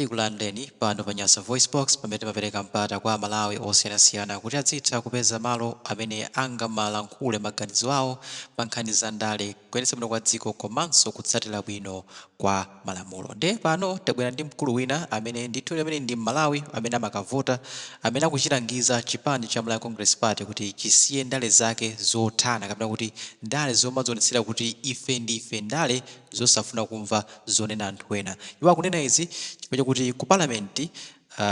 Tikulandireni pano pa Nyasa VoiceBox, pamene timapereka mpata kwa Amalawi osiyanasiyana kuti adzitha kupeza malo amene angamalankhule maganizo awo pa nkhani za ndale, kuyendetsa bwino kwa dziko komanso kutsatira bwino kwa malamulo. Ndiye pano tabwera ndi mkulu wina amene ndithudi amene ndi Mmalawi amene amakavota, amene akuchilangiza chipani cha Malawi Congress Party kuti chisiye ndale zake zothana kapena kuti ndale zomadzionetsera kuti ife ndi ife, ndale zosafuna kumva. zonena anthu ena. Iwo akunena izi chifukwa kuti ku Parliament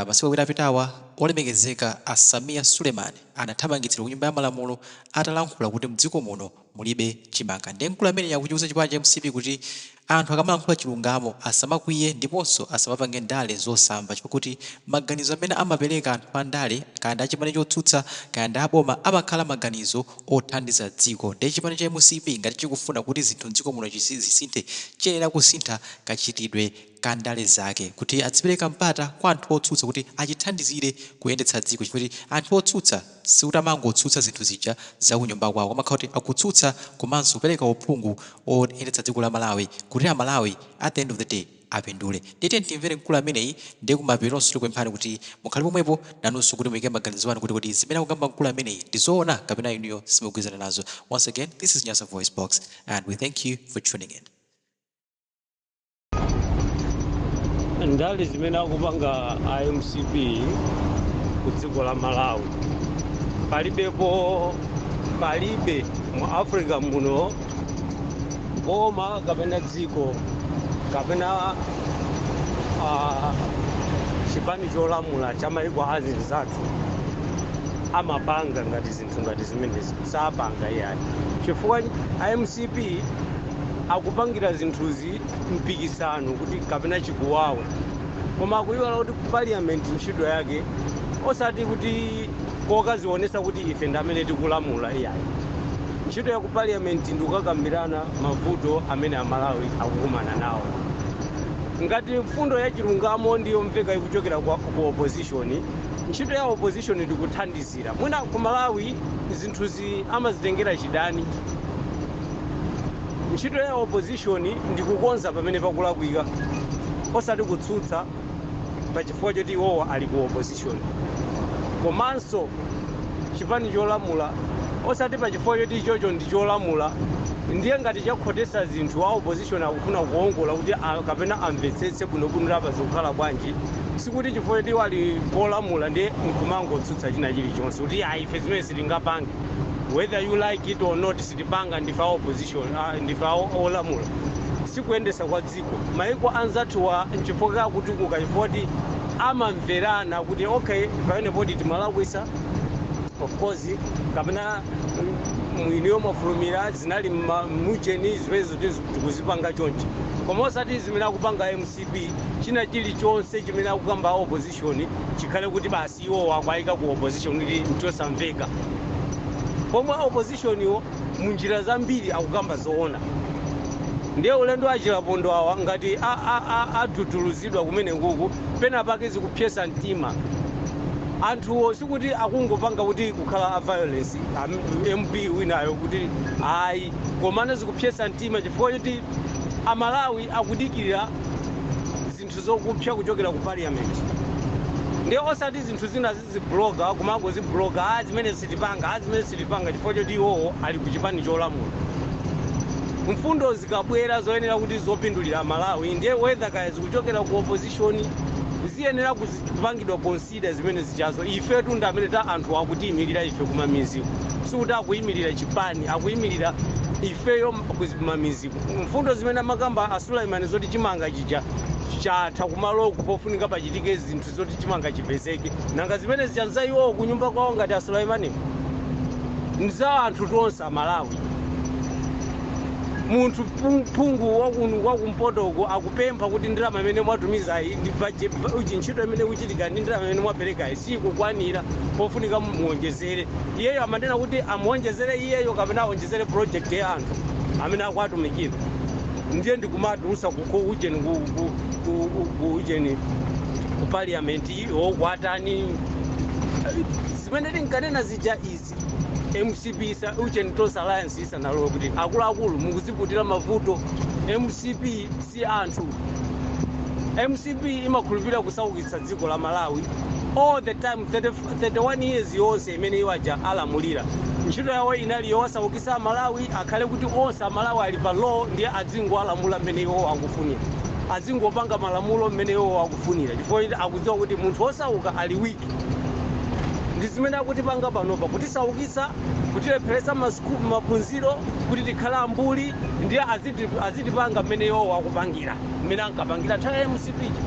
masiku awiri apitawa olemekezeka a Sameer Suleiman anathamangitsidwa ku nyumba ya malamulo atalankhula kuti mdziko muno mulibe chimanga nde mkulu ameneyi akuchiuza chipani cha mcp kuti anthu akamalankhula chilungamo asamakwiye ndiponso asamapange ndale zosamva chifukwa kuti maganizo amene amapeleka anthu andale kaya ndi chipani chotsutsa kaya ndi aboma amakhala maganizo othandiza dziko nde chipani cha mcp ngati chikufuna kuti zinthu mdziko muno zisinthe chiyenera kusintha kachitidwe ka ndale zake kuti adzipereka mpata kwa anthu otsutsa kuti achithandizire kuyendetsa dziko chifukwa kuti anthu otsutsa sikuti amangotsutsa zinthu zija za kunyumba kwawo amakhala kuti akutsutsa komanso kupereka uphungu oyendetsa dziko la Malawi kuti a Malawi at the end of the day apindule. Ndiye tiyeni timvere mkulu ameneyi ndiye kumapetonso tikupemphani kuti mukhale pomwepo nanunso kuti muike maganizo anu kuti kodi zimene akukamba mkulu ameneyi ndi zoona kapena inuyo simugwizana nazo. Once again, this is Nyasa Voice Box and we thank you for tuning in. ndale zimene akupanga a mcp ku dziko la malawi palibepo palibe mu africa muno boma kapena dziko kapena ah, chipani cholamula cha maiko azinzathu amapanga ngati zinthu ngati zimenezi sapanga iyayi chifukwa a mcp akupangira zinthuzi mpikisano kuti kapena chikuwawa koma akuyiwala kuti parliament ntchito yake osati kuti kokazionesa kuti ife ndamene tikulamula iyayi Ntchito ya ku Parliament ndi kukakambirana mavuto amene a Malawi akukumana nawo. Ngati mfundo ya chilungamo ndi yomveka ikuchokera kwa a ku opposition, ntchito ya opposition ndi kuthandizira. Mwina ku Malawi zinthuzi amazitengera chidani. Ntchito ya opposition ndi kukonza pamene pakulakwika osati kutsutsa. pa chifukwa choti iwowo ali ku opposition komanso chipani cholamula osati pa chifukwa choti ichocho ndi cholamula ndiye ngati chakhotesa zinthu a opposition akufuna kuongola kuti a- kapena amvetsetse bwinobwino apa zikukhala bwanji sikuti chifukwa choti iwo ali kolamula ndiye nkumangotsutsa china chilichonse kuti ayi ife zimene sitingapange whether you like it or not sitipanga ndife a opposition ah, ndife a olamula sikuyendesa kwa dziko. Maiko anzathuwa nchifukwa akutukuka chifukwa amamverana kuti okay pamenepoti timalakwisa of course kapena mwiniyo mwafulumira zinali mujeni zimenezi tikuzipanga chonchi koma osati zimene akupanga mcp china chilichonse chimene akukamba opposition opposition chikhale kuti basi iwowo akwayika ku opposition kuti nchosamveka pomwe a opposition wo munjira zambiri akukamba zoona ndiye ulendo a Chilapondwa awa ngati a- a- a- adudulutsidwa kumeneku pena pake zikupsetsa mtima anthuwo sikuti akungopanga kuti kukhala a violence am- mp winayo kuti ayi komano zikupsetsa mtima chifukwa choti amalawi akudikirira zinthu zakupsa kuchokera ku parliament ndiye osati zinthu zina zizibloga kumangozibloga a zimene sitipanga a zimene sitipanga chifukwa choti iwowo ali ku chipani cholamula mfundo zikabwera zoyenera kuti zopindulira malawi ndiye whether kaya zikuchokera ku opposition ziyenera kuzi- kupangidwa consider Chita zimene zijazo. Ifetu ndi amene anthu akutiimirira ife kumamiziku. Sikuti akuimirira chipani, akuimirira ifeyo kumamiziku. Mfundo zimene amakamba a Suleiman zoti chimanga chija chatha kumaloku pofunika pachitike zinthu zoti chimanga chipezeke. Nanga zimene zija nza iwowo kunyumba kwawo kwa a Suleimaniko? Nza anthu tonse Amalawi. Munthu. phung- phungu wakunu kwakumpoto uko akupempha kuti ndalama imene mwatumizayi ndi baje- ba- uchi- ntchito imene ikuchitika ndi ndalama imene mwaperekayi sikukwanira pofunika muwonjezere iyeyo amanena kuti amuwonjezere iyeyo kapena awonjezere project ya anthu amene akuwatumikira ndiye ndikumawatulusa ku ku ujeni ku ku- ku- ku- ku ujeni ku parliament nkwatani zimene tinkanena zija izi mcp isa ujeni tonse alliance isanalowe kuti akuluakulu mukuziputira mavuto mcp si anthu mcp imakhulupirira kusaukisa dziko la malawi all the time 30, 31 years yonse imene iwo aja alamulira ntchito yawo inali yowasaukitsa amalawi akhale kuti onse amalawi ali pa low ndiye adzingowalamula mmene iwo akufunira adzingopanga malamulo mmene iwo akufunira chifukwa akudziwa kuti munthu wosauka ali weak ndi zimene akutipanga panopa kutisaukisa kutilepheresa masukulu maphunziro kuti tikhale ambuli ndiye aziti- azitipanga mmene iwowo akupangira mmene ankapangira nthawi ya mcp ija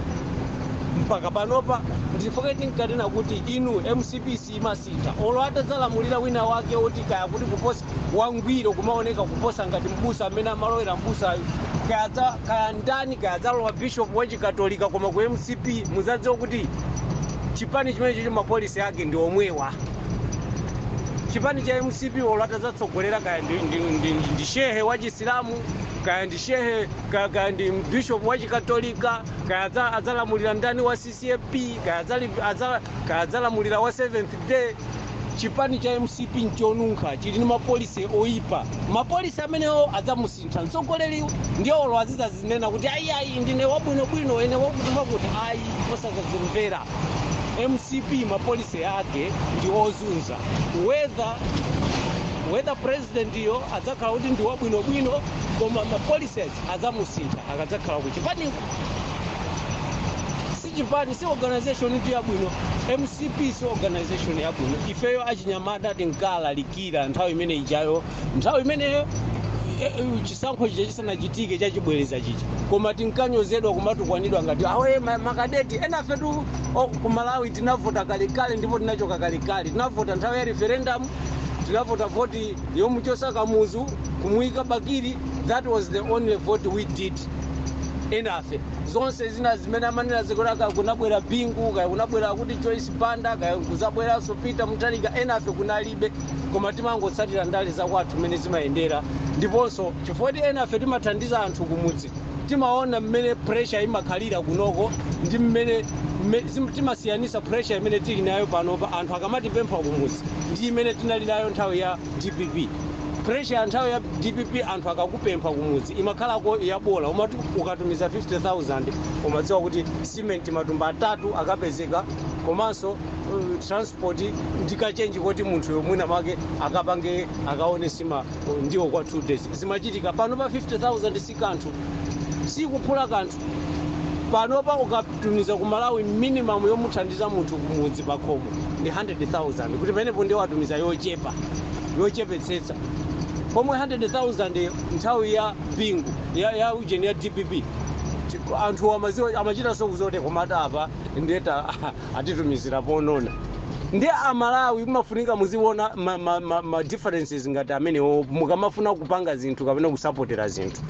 mpaka panopa nchifukwa tinkanena kuti inu mcp siimasintha olo atazalamulira wina wake oti kaya kuti kuposa wangwiro kumaoneka kuposa ngati mbusa amene amalowera mbusayo kaya dza- kaya ndani kaya dzalowa bishop wa chikatolika koma ku mcp mudzadziwa kuti chipani chimenecho ma policy ake ndi omwewa chipani cha mcp olo atadzatsogolera kaya ndi, ndi, ndi, ndi, ndi shehe wa chisilamu kaya ndi shehe kaya, kaya ndi bishop wa chikatolika kaya adza- adzalamulira ndani wa mcp kaya adzali- adza- kaya adzalamulira wa seventh day chipani cha mcp nchonunkha chili ndi ma policy oyipa ma policy amenewo adzamusintha mtsogoleri ndiye olo azidzazinena kuti ayi ayi ndine wabwinobwino ine wakuti wakuti ayi osadzazimvera mcp ma policy ake ndi ozunza whether whether president yo adzakhala kuti ndi wabwinobwino koma ma policy adzamusintha akadzakhala kuchipaniko si chipani si organization itu yabwino mcp si organization yabwino ifeyo achinyamata tinkalalikira nthawi imene ijayo nthawi imeneyo eh, eh, chisankho chija chisanachitike chachibwereza chija koma tinkanyozedwa kumatukwanidwa ngati awa ma- makadeti enafetu oh, ku malawi tinavota kalekale ndipo tinachoka kalekale tinavota nthawi ya referendum tinavota voti yomuchosa kamuzu kumuyika bakili that was the only vote we did enafe zonse zina zimene amanena zikuti kaya kunabwera bingu kaya kunabwera akuti joyce banda kaya kuzabweranso peter mutharika enafe kunalibe koma timangotsatira ndale zakwathu mmene zimayendera ndiponso chifukwa choti enafe timathandiza anthu kumudzi timaona mmene pressure imakhalira kunoko ndi mmene mme- zim- timasiyanisa pressure imene tili nayo panopa anthu akamatipempha kumudzi ndi imene tinali nayo nthawi ya Dpp. Pressure ya nthawi ya dpp anthu akakupempha kumudzi imakhalako yabola umati ukatumiza 50,000 umadziwa kuti cement matumba atatu akapezeka komanso uh, transport ndi kachenji koti munthuyo mwina make akapange akaone sima uh, ndiwo kwa 2 days zimachitika pano pa 50,000 sikanthu sikuphula kanthu panopa ukatumiza ku malawi minimum yomuthandiza munthu kumudzi pakhomo ndi 100000 kuti pamenepo ndiye watumiza yochepa yochepetsetsa pomwe 100000 nthawi ya bingu ya, ya ujeni ya dpp anthu amaziwa amachitanso kuziwa kuti koma apa nde atitumizira ponona nde amalawi mumafunika muziona ma, ma, ma, ma differences ngati amenewo mukamafuna kupanga zinthu kapena kusapotera zinthu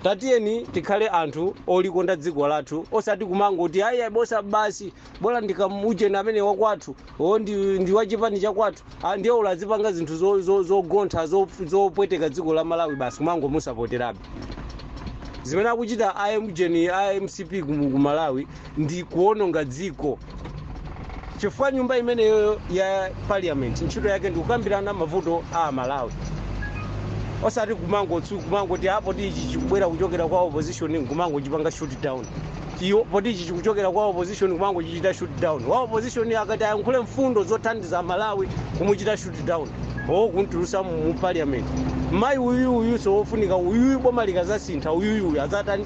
tatiyeni tikhale anthu olikonda dziko lathu osati kumangoti ayi bosa basi bola ndi kamuujeni amene wakwathu o ndi, ndi wa chipani chakwathu Ah, ndiye olo azipanga zinthu zo- zo- zogontha zo- zopweteka dziko la malawi basi kumangomusapoterabe zimene akuchita amuujeni a mcp ku ku malawi ndi kuononga dziko chifukwa nyumba imeneyo ya parliament ntchito yake ndi kukambirana mavuto a malawi osati kumangotsu kumangoti apo tichi chikubwera kuchokera kwa opposition nkumangochipanga shoot down eyo poti ichi chikuchokera kwa opposition kumangochichita shoot down wa opposition akati ayankhule mfundo zothandiza amalawi kumuchita shoot down o kumtulusa mu mu parliament mayi uyu uyuso wofunika uyuyu boma likazasintha uyuyu uyu azatani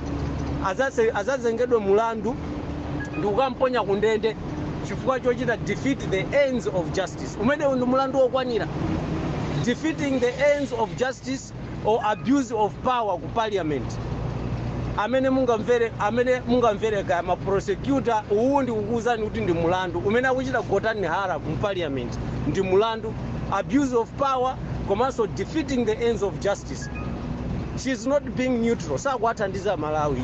azase- azazengedwe mulandu ndikukamponya ku ndende chifukwa chochita defeat the ends of justice umenewu ndi mulandu wokwanira defeating the ends of justice or abuse of power ku parliament amene mungamvere amene mungamvere kaya ma prosecutor uwu ndikukuwuzani kuti ndi mulandu umene akuchita gotani hara mu parliament ndi mulandu abuse of power komanso defeating the ends of justice she is not being neutral sakuwathandiza malawi